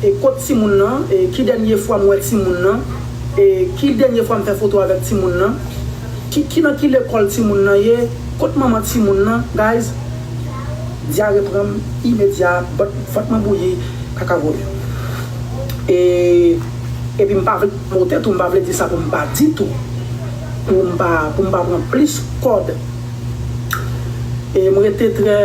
E kot timoun nan e ki dènye fwa m wè timoun nan e ki dènye fwa m fè foto avèk timoun nan ki ki nan ki lekòl timoun nan ye kot manman timoun nan guys dyare pran m imedya bòt vant mwen bouyi kaka vole e epi m pa vle mote tou m pa vle di sa pou m pa di tou pou m pa pou m pa pran plis kòd. E m rete trè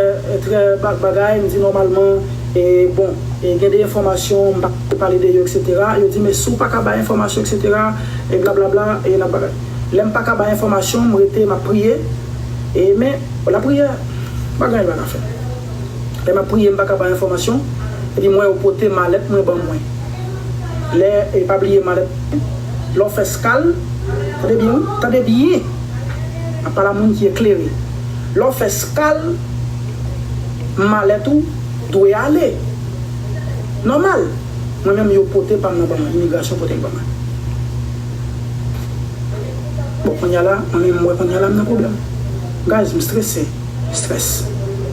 trè bagay, m di nòmalman e bon e gen de enfòmasyon m pa dwe pale de yo eksetera, yo di men si w pa ka bay enfòmasyon eksetera e blablabla e nap bagay. Lè m pa ka bay enfòmasyon, m rete m ap priye e men lapriyè pa gen anyen l pa ka fè. Lè m ap priye m pa ka bay enfòmasyon epi m wè yo pote malèt mwen ban mwen. lè e pa bliye malèt lè w fè skal tande byen wi tande byen map pale a moun ki eklere lè w fè skal malèt ou dwe ale nòmal mwen menm yo pote pam nan ban mwen imigrasyon pote l ban mwen bon kounya la mwen menm m wè kounya la m nan pwoblèm guys m strese stress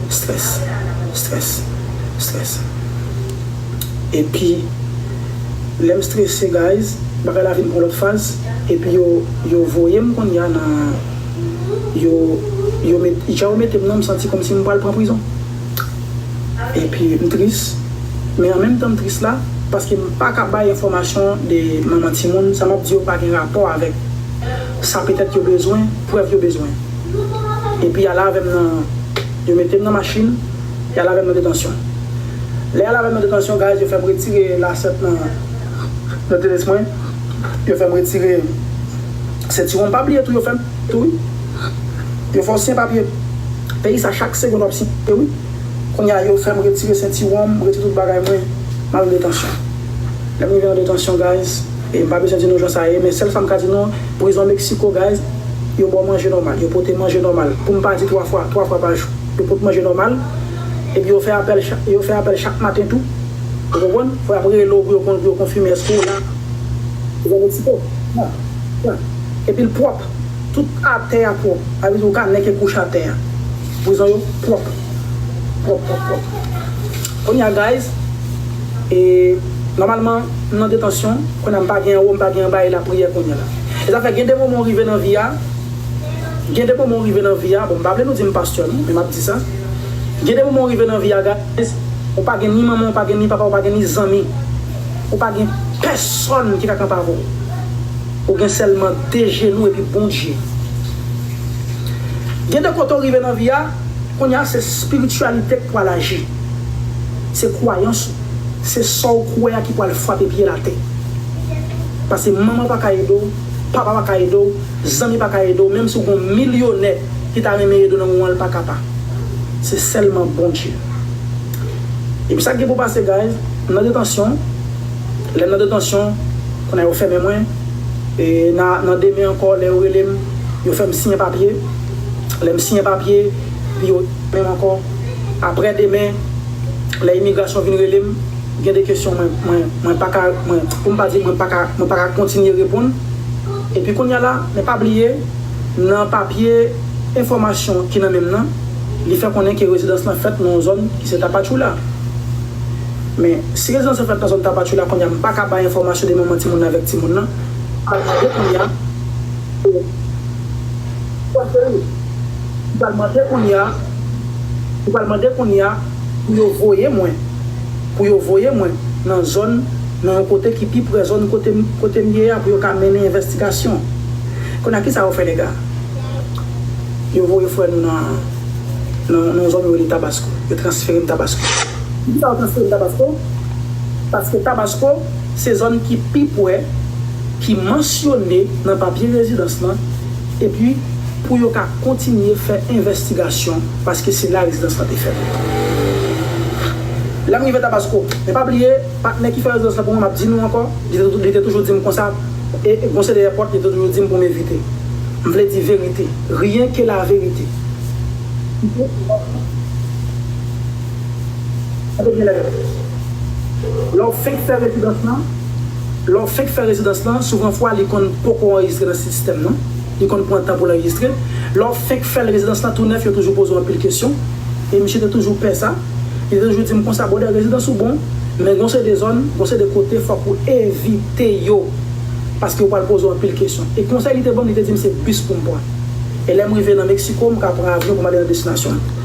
stress stress stress. epi lèm strese guys bagay la vin pran lòt faz epi yo yo voyem konnya nan yo yo met jan yo metem nan m santi kòmsi m pral pran prizon epi m tris men an menm tan m tris la paske m paka bay enfòmasyon de manman timoun sa map di yo pa gen rapò avèk sa petèt yo bezwen prèv yo bezwen epi ale avèm nan yo metem nan machin Lè al avèm nan detansyon. Lè al avèm nan detansyon guys yo fèm retire lasèt nan nan tenis mwen yo fèm retire sentiwon m pa bliye tou yo fèm tou wi yo fè w siyen papye peyi sa chak segond wap siyen wi kounye a yo fèm retire sentiwon m retire tout bagay mwen m al nan detansyon lè m rive nan detansyon guys e m pa bezwen di nou jan sa ye men sèl sa m ka di nou prizon mexico guys yo ba w manje nòmal yo pote manje nòmal pou m pa di 3 fwa 3 fwa pa jou. Yo pot manje nòmal, epi yo fè apèl chak yo fè apèl chak maten tou. Ou konprann? Fò y ap rele w pou yo pou yo konfime èske w la. Zèbetiko, Nan, nan. Epi l pwòp. Tout atè a pwòp. Sa vle di ou ka nèke kouch atè a. Prizon yo pwòp. Pwòp, pwòp, pwòp. Kounye a guys, e, nòmalman, m nan detansyon, kounye a m pa gen anwo, m pa gen anba e lapriyè kounye la. E sa fè gen de moman ou rive nan vi a, Gen de moman ou rive nan vi a, bon m pa vle nou di m pastè non, men m ap di sa, gen de moman ou rive nan vi a guys, ou pa gen ni manman ou pa gen ni papa ou pa gen ni zanmi, ou pa gen pèsòn ki ka kanpe avè w. Ou gen sèlman 2 jenou epi Bondye. Gen de kote ou rive nan vi a, kounye a se spirityalite k pwal aji. Se kwayans ou, se sa w kwè a ki pwal frape pye l atè. Pase manman w pa ka ede w. Papa pa ka ede w, zanmi pa ka ede w, menm si w gon milyonè ki ta renmen ede w nan moman an li pa ka pa. Se sèlman Bondye. Epi sa k gen pou pase guys, m nan detansyon, lè m nan detansyon, kounye a yo fèmen mwen, e na nan demen ankò lè yo rele m, yo fè m siyen papye, lè m siyen papye, epi yo fèmen m ankò, aprè demen. lè imigrasyon vin rele m, gen de kesyon mwen, mwen pa ka, mwen, pou m pa di mwen pa ka, mwen pa ka kontinye reponn. Epi kounye a la, men pa bliye, nan papye enfòmasyon ki nan men m nan, li fè konnen ke rezidans lan fèt nan yon zòn ki se Tapachula. Men, si rezidans lan fèt nan zòn Tapachula, kounye a m pa ka bay enfòmasyon de manman timoun nan avèk timoun nan, paske kounye a, se, se yon fòs de rout. Ou pral mande kounye a, ou pral mande kounye a pou yo voye mwen, pou yo voye mwen nan zòn, nan yon kote ki pi pre zòn kote, kote m ye a pou yo ka mennen envèstigasyon. Kounye a kisa yo fè nèg a? Yo voye frè nou nan, nan yon zòn yo rele Tabasko. Yo transfere m Tabasko. Poukisa yo transfere m Tabasko? Paske Tabasko se zòn ki pi pre, ki mansyone nan papye rezidans lan. epi pou yo ka kontinye fè envèstigasyon paske se la rezidans lan te fèt. Lè m rive Tabasco, men pa bliye, patnè ki fè rezidans lan pou mwen, m ap di nou ankò, li te toujou di m konsa, e Monseyè Pòt li te toujou di m pou m evite. M vle di verite, rien que la vérité. Tande byen lè m ap di. Lè w fenk fè rezidans lan. Lè w fenk fè rezidans lan, souvan fwa li konn poko anrejistre nan sistèm nan, li konn pran tan pou l anrejistre. Lè w fenk fè l rezidans lan tou nèf yo toujou poze w anpil kesyon, e misye te toujou pè sa. Li te toujou di m konsa, Brother rezidans ou bon, men gen yon seri de zòn, gen yon seri de kote fòk ou evite yo, paske yo pral poze w anpil kesyon. E konsèy li te ban m, li te di m se bis pou m pran. E lè m rive nan Mexico, m ka pran avyon pou m ale nan destinasyon m.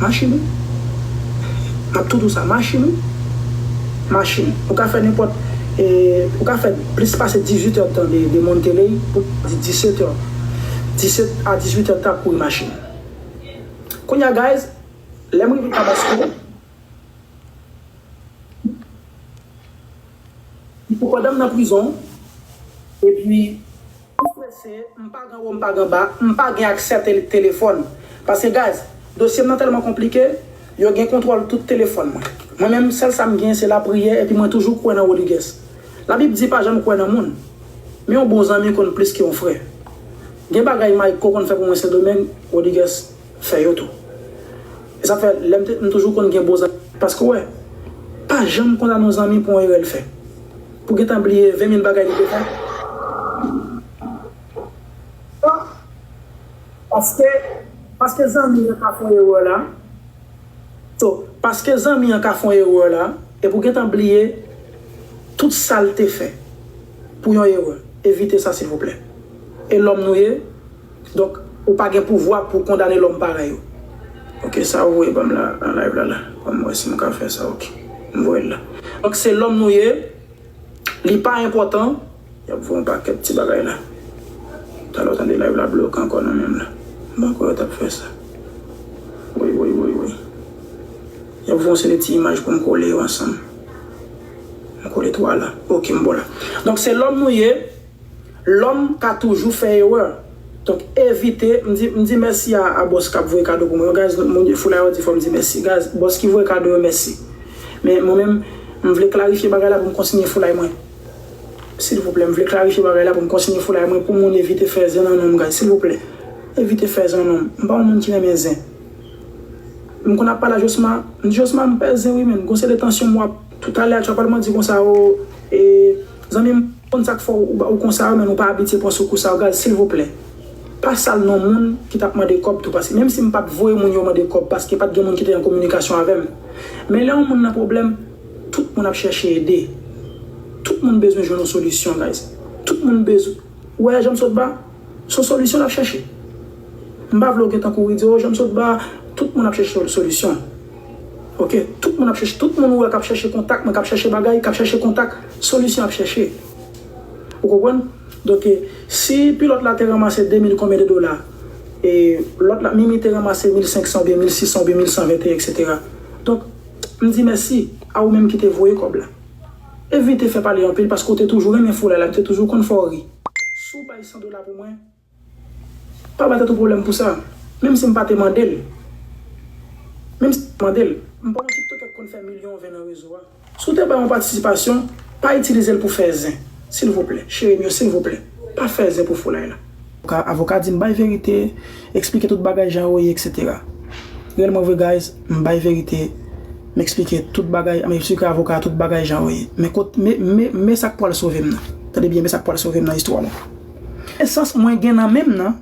Machin wi. Nap tou dousa machin wi. Machin. Ou ka fè nenpòt e ou ka fè plis pase 18 èd tan de Monteley pou di 17 èd. 17 a 18 èd tan ap kouri machin. Kounya guys, lèm rive Tabasco, Ipopotam nan prizon epi Pou prese, m pa ganwo m pa ganba, m pa gen aksè tele telefòn. Paske guys, dosye m nan tèlman konplike, yo gen kontwòl tout telefòn mwen. Mwen menm, sèl sa m gen se lapriyè epi mwen toujou kwè nan Rodrigues. Labib di pa janm kwè nan moun. Men yon bon zanmi konn plis ke yon frè. Gen bagay Mayco konn fè pou mwen Sendomeng, Rodrigues fè yo tou. E sa fè, lè m te, m toujou konn gen bon zanmi. Paske w wè, pa janm kondane yon zanmi pou yon erè l fè. Pou gentan bliye 20 mil bagay li te fè. Sa paske paske zanmi an ka fon erè la. So paske zanmi an ka fon erè la e pou gentan bliye tout sal te fè pou yon erè evite sa silvouplè e lòm nou ye. Donk ou pa gen pouvwa pou kondane lòm parèy ou. Ok sa ou voye banm la nan live la la banm wè sim ka fè sa ok m voyel la. Donk se lòm nou ye li pa enpòtan. Yap voye yon pakèt ti bagay la. Talè w tande live la bloke ankò nan menm la. M pa kwè yo tap fè sa. Woy woy woy woy. Yap voye yon seri ti imaj poum kole yo ansanm. M kole 3 la ok m bo la. Donk se lòm nou ye. Lòm ka toujou fè erè. Donk evite, m di m di mèsi a a bòs kap voye kado pou mwen yo guys moun foulay yo di fòm di mèsi guys bòs ki voye kado yo mèsi men mwen menm m vle klarifye bagay la pou m kontinye foulay mwen silvouplè m vle klarifye bagay la pou m kontinye foulay mwen pou moun evite fè zen nan non m guys silvouplè evite fè zen nan non m m pa yon moun ki renmen zen m konn ap pale a josma m di josma m pè zen wi menn gon seri de tansyon m wap Tout ale a tchwapal mwen di konsa oo ee zanmim m konn sak fè ou konsa yo men nou pa abitye pran sou kou sa yo gal silvouplè pa sal non moun ki tap mande kòb tou paske menm si m pat voye moun yo mande kòb paske pat gen moun ki te an kominikasyon avèm men lè yon moun nan pwoblèm tout moun ap chèche ede tout moun bezwen jwenn yon solisyon guys tout moun bezw wè janm sot ba son solisyon lap chèche. M pa vle w gen tankou wi di oh janm sot ba tout moun ap chèche solisyon ok tout moun ap chèche tout moun ou wè kap chèche kontak mwen kap chèche bagay kap chèche kontak solisyon yap chèche ou konprann donk si pilòt la te ranmase 2000 konbyen de dola e lòt la mimi te ranmase 1500 oubyen 1600 oubyen 1121 eksetera donk m di mèsi a ou menm ki te voye kòb la evite fè pale anpil paske ou te toujou renmen foulay la m te toujou konn fè w ri si w bay 100 dola pou mwen. Pa bay tèt ou pwoblèm pou sa. Menm si m pa te mande l. Menm si m pa te mande l. M pa yon tiktokè k konn fè milyon vè nan rezo a. Si w te bay yon patisipasyon, pa itilize l pou fè zen. Silvouplè, cheri m yo, silvouplè, pa fè zen pou foulay la. Avoka di m bay verite, eksplike tout bagay jan yo ye etc. Rèlman vre guys, m bay verite, m eksplike tout bagay, m eksplike avoka tout bagay jan yo ye. Men kot, men, men sa k pwal sove m nan. Tande byen, men sa k pwal sove m nan istwa la. Nesans mwen gen nan menm nan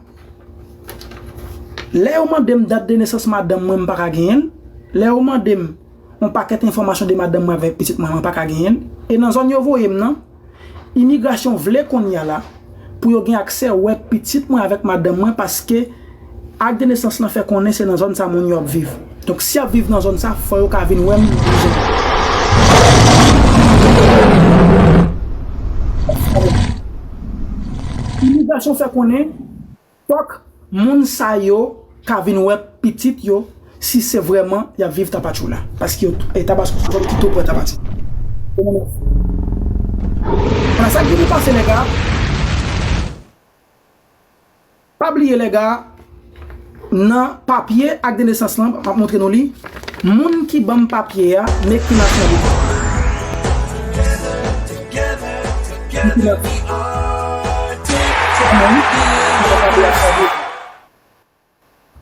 Lè yo mande m dat de nesans madanm mwen m pa ka genyen l Lè yo mande m yon pakèt enfòmasyon de madanm mwen avèk pitit mwen mwen pa ka genyen l E nan zòn yo voye m nan Imigrasyon vle kounye a la pou yo gen aksè wè pitit mwen avèk madanm mwen paske Ak de nesans lan fè konnen se nan zòn sa moun yo ap viv. Donk si y ap viv nan zòn sa fò yo ka vin wè m nan prizon an. Imigrasyon fè konnen fòk moun sa yo ka vin wè pitit yo si se vrèman y ap viv Tapachula. Paske Tabasco se zòn ki tou pre Tapachula. Sa ki vin pase nèg la. Pa bliye lè ga nan papye ak de nesans lan map montre nou li moun ki banm papye a me ki nasyonalite li.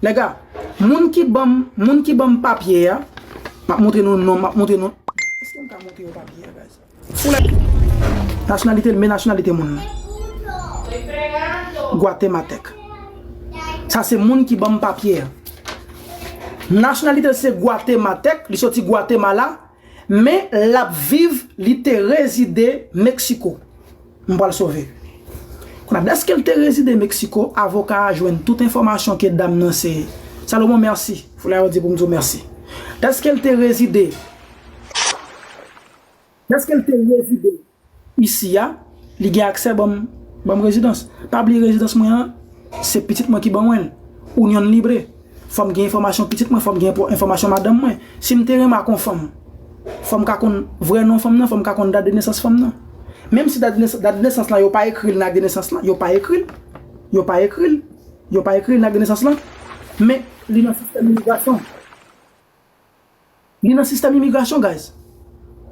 Nèga, moun ki banm, moun ki banm papye a, map montre nou non, map montre nou, eske mka montre yo papye a guys? Foulay! Nationalité l, men nationalité moun lan. Guatematèk. Sa se moun ki banm papye a. Nationalité l se Guatematèk, li soti Guatemala, men lap viv, li te rezide Mexico. M pral sove. Konnya dèske l te rezide Meksiko, avoka a jwenn tout enfòmasyon ke dam nan se Salomon Merci, foulay yo di pou m di w mèsi. Dèske l te rezide Dèske l te rezide isi a, li gen aksè ban m ban m rezidans. Pa bliye rezidans mwen an, se pitit mwen ki ban mwen l. Unión libre. Fò m gen enfòmasyon pitit mwen, fò m gen enfòmasyon madanm mwen. Si m te renmen ak yon fanm, fò m ka konn vrè non fanm nan, fò m ka konn dat de nesans fanm nan. Menm si dat de nesans lan yo pa ekri l nan ak de nesans lan, yo pa ekri l, yo pa ekri l, yo pa ekri l nan ak de nesans lan, men li nan sistèm imigrasyon. Li nan sistèm imigrasyon guys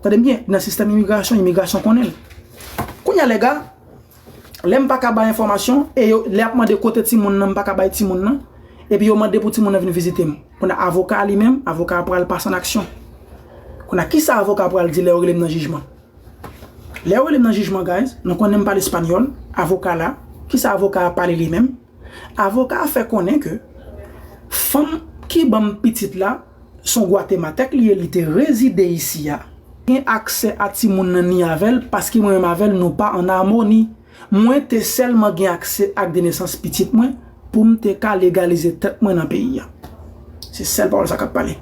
tandem byen li nan sistèm imigrasyon imigrasyon konnenl kounya lèga lèm paka bay enfòmasyon e yo lè ap mande kote ti moun nan m paka bay ti moun nan epi yo mande pou ti moun nan vin vizitem kounya avoka li menm avoka pral pase an aksyon kounya kisa avoka pral di lè yo relem nan jijman lè yo relem nan jijman guys nou konnenm pale espanyòl avoka la kisa avoka pale li menm. Avoka a fè konnen ke fanm ki banm pitit la son gwatematèk li ye li te rezide isi a, gen aksè a timoun nan ni avèl paske mwen menm avèl nou pa an amoni, mwen te sèlman gen aksè ak de nesans pitit mwen poum te ka legalize tèt mwen nan peyi a. Se sèl pawòl sa kap pale.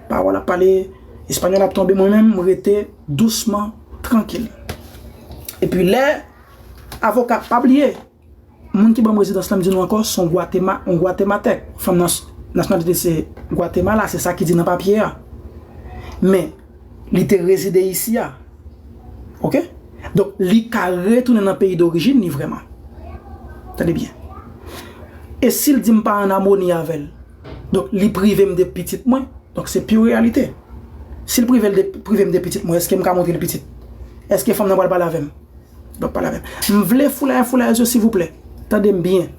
Pawòl ap pale, espanyòl ap tonbe mwen menm m rete dousman trankil. Epi lè avoka pa bliye. Moun ki ban m rezidans la m di nou ankò son gwatema on gwatematèk fanm nan nasyonalite se gwatemala se sa ki di nan papye a men li te rezide isi a ok donk li ka retounen nan peyi dorijin li vrèman tande byen e si l di m pa an amoni avè l donk li prive m de pitit mwen donk se pi reyalite si l prive l de pitit mwen èske m ka montre l pitit èske fanm nan pral pale avè m. Bap pale avèm. M vle foulaya foulayèz yo silvouplè. Tande m byen.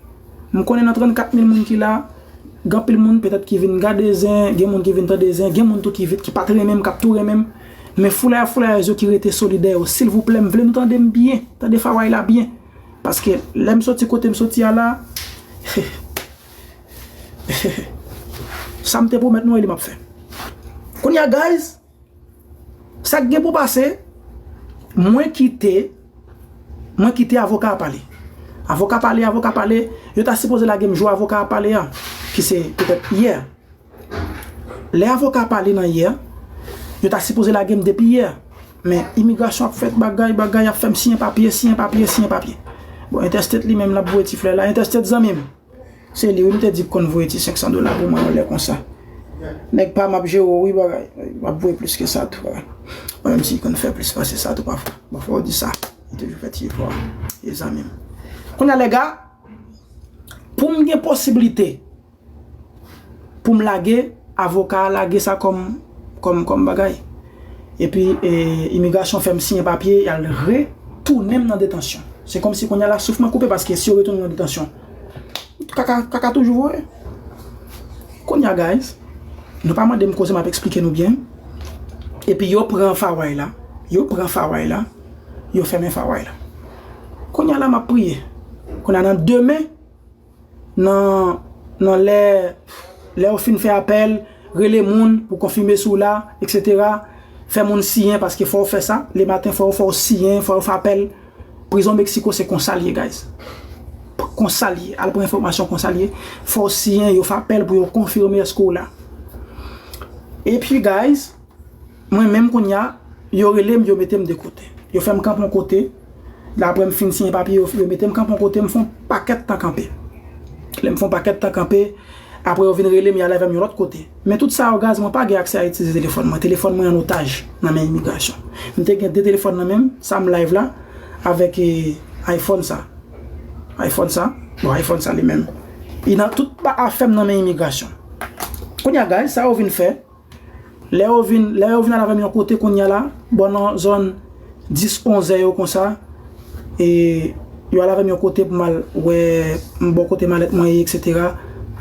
M konnen nan 34 mil moun ki la, gen anpil moun petèt ki vin gade zen, gen moun ki vin tande zen, gen moun tou ki vit ki pat renmen m, k ap tou renmen m. Men foulaya foulayèz yo ki rete solidè yo, silvouplè m vle nou tande m byen, tande faway la byen. Paske lè m soti kote m soti a la, sa m te pwomèt nou e li m ap fè. Kounya guys! Sak gen pou pase, mwen kite, mwen kite avoka a pale. Avoka pale, avoka pale, yo ta sipoze lage m jou avoka a pale a, ki se petèt yè. Lè avoka a pale nan yè, yo ta sipoze lage m depi yè. Men, imigrasyon ap fèt bagay, bagay ap fè m siyen papye, siyen papye, siyen papye. Bon, entèstèt li menm l ap voye ti flè la, entèstèt zanmi m. Se li wi m te di k konn voye ti 500 dola pou mwen yon lè konsa. Nèg pa m ap jere w wi bagay. M ap voye plis ke sa tou bagay. Menm si l konn fè plis pase sa tou pafwa. Bon fò w di sa. Li toujou fè ti efò a. Ye zanmi m. Kounye a lèga, pou m gen posibilite. poum lage avoka a lage sa kòm kòm kòm bagay epi imigrasyon fèm siyen papye yal re tounenm nan detansyon se kòmsi kounya la souf mwen koupe paske si yo retounem nan detansyon kaka kaka toujou voye kounya guys nou pa mandem koze map esplike nou byen epi yo pran faway la yo pran faway la yo fèmen faway la kounya la map priye kounya nan demen. Nan Nan lè Lè ou fin fè apèl, rele moun pou konfime si w la, eksetera Fè moun siyen paske fò ou fè sa le maten fò ou fò ou siyen fò ou fè apèl Prizon Mexico se konsa l ye guys Konsa l ye Al pran enfòmasyon konsa l ye Fò ou siyen yo fè apèl pou yo konfime èske w la Epi guys Mwen menm kounya yo relem yo metem de kote yo fèm kanpe yon kote aprè m fin siyen papye yo metem kanpe yon kote m fon pakèt tan kanpe lèm fon pakèt tan kanpe aprè yo vin relem yal avèm yon lòt kote men tout sa yo gaz mwen pa gen aksè a itilize telefòn mwen telefòn mwen an otaj nan men imigrasyon m te gen 2 telefòn nan menm sa m live la avèk iphone sa iphone sa bon iphone sa li menm li nan tout afèm nan men imigrasyon kounya gaz sa yo vin fè. Lè yo vin, lè yo vin al avè m yon kote kounye a la, bò nan zòn 10, 11 zè yo konsa, e yo al avè m yon kote pou m al wè, m bò kote malèt mwen ye eksetera,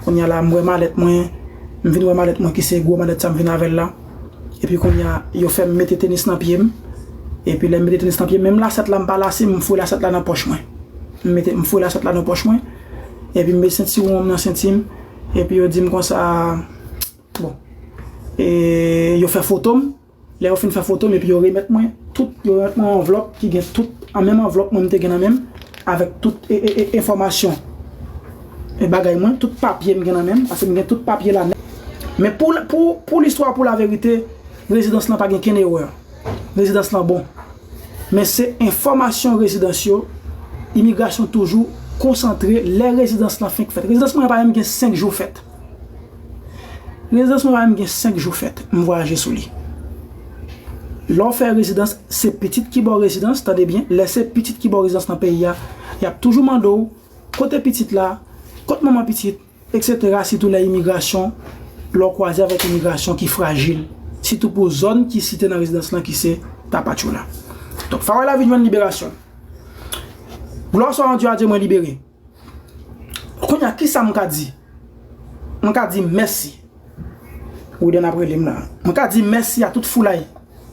kounye a la m wè malèt mwen, m vin wè malèt mwen ki se gwo malèt sa m vin avè l la, epi kounye a yo fè m mete tenis nan pye m, epi lè m mete tenis nan pye m, menm lasèt la m pa lase, m fouye lasèt la nan pòch mwen, m mete, m fouye lasèt la nan pòch mwen, epi m met sentiwon m nan senti m, epi yo di m konsa. Bon. E yo fè foto m. Lè yo fin fè foto m epi yo remèt mwen tout, yo remèt mwen yon anvlòp ki gen tout, an menm anvlòp mwen m te gen nan men m, avèk tout enfòmasyon e bagay mwen, tout papye m gen nan men m, paske m gen tout papye la nèt. Men pou, pou, pou listwa, pou laverite, rezidans lan pa gen kenn erè. Rezidans lan bon. Men se enfòmasyon rezidans yo, imigrasyon toujou konsantre lè rezidans lan fenk fèt. Rezidans mwen an pa menm gen 5 jou fèt. Rezidans mwen pa gen 5 jou fèt m vwayaje sou li. Lè w fè rezidans se pitit ki ba w rezidans, tande byen, lè se pitit ki ba w rezidans nan peyi a, y ap toujou mande w kote pitit la, kot manman pitit, eksetera sitou lè imigrasyon, lè w kwaze avèk imigrasyon ki frajil, sitou pou zòn ki site nan rezidans lan ki se Tapachula. Donk, Fawèlavi jwenn liberasyon l. Glwa swa an Dye a Dye mwen libere. Kounya kisa m ka di? M ka di mèsi. Rouden ap rele m la. M ka di mèsi a tout foulay.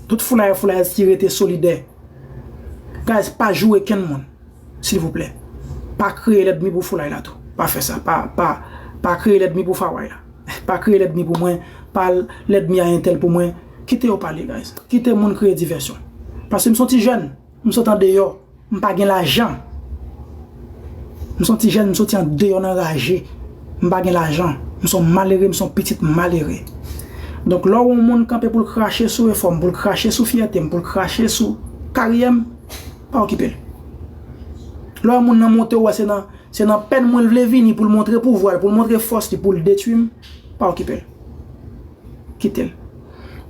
Tout foulayè foulayèz ki rete solidè. Guys pa joure kenn moun. Silvouplè. Pa kreye lèdmi pou foulay la tou. Pa fè sa. Pa kreye lèdmi pou faway la. Pa kreye lèdmi pou mwen. Pa lèdmi a entèl pou mwen. Kite yo pale guys. Kite moun kreye divèsyon. Pase m son ti jèn. M sot an deyò. M pa gen lajan. M son ti jèn m soti andeyò nan raje. M pa gen lajan. M son malere, m son pitit malere. Donk lè w wè yon moun kanpe pou l krache sou efò m, pou l krache sou fyète m, pou l krache sou karyè m, pa okipe l. Lè w wè moun nan monte w wè se nan se nan pèn mwen l vle vini pou l montre pouvwa l, pou l montre fòs li pou l detwi m, pa okipe l. Kite l.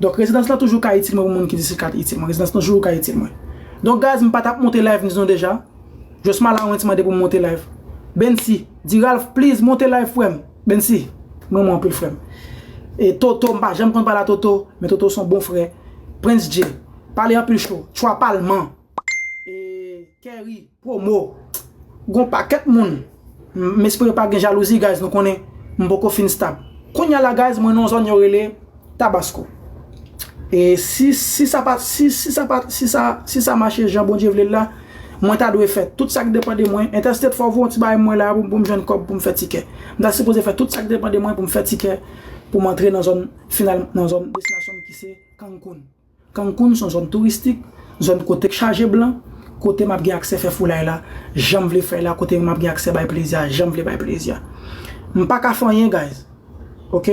Donk rezidans lan toujou ka itil mwen pou moun ki di si l ka itil mwen. Rezidans lan toujou ka itil mwen. Donk guys m pa tap monte live ni zon deja. Just Malawens mande pou m monte live. Bensy, di Ralph please monte live frè m. Bensy, m renmen w anpil frè m. E Toto, m pa janm konn pale a Toto, men Toto son bon frè. Prince Jay, pale anpil cho. Chwa palman. Kerry promo Gon pakèt moun M espere pa gen jalouzi guys nou konnen m poko fin stab Kounya la guys mwen nan zòn yo rele Tabasco E si si sa pa si si sa pa si sa si sa mache jan Bondye vle l la Mwen ta dwe fè tout sak depan de mwen Interstate fò voun ti bagay mwen la pou m jwenn kòb pou m fè tikè M ta sipoze fè tout sak depan de mwen pou m fè tikè pou m antre nan zòn final nan zòn destinasyon m ki se Cancun. Cancun son zòn touristik, zòn kotek chaje blan, kote map gen aksè fè foulay la janm vle fèy la, kote map gen aksè bay plezi a janm vle bay plezi a. Mpaka fè anyen guys ok.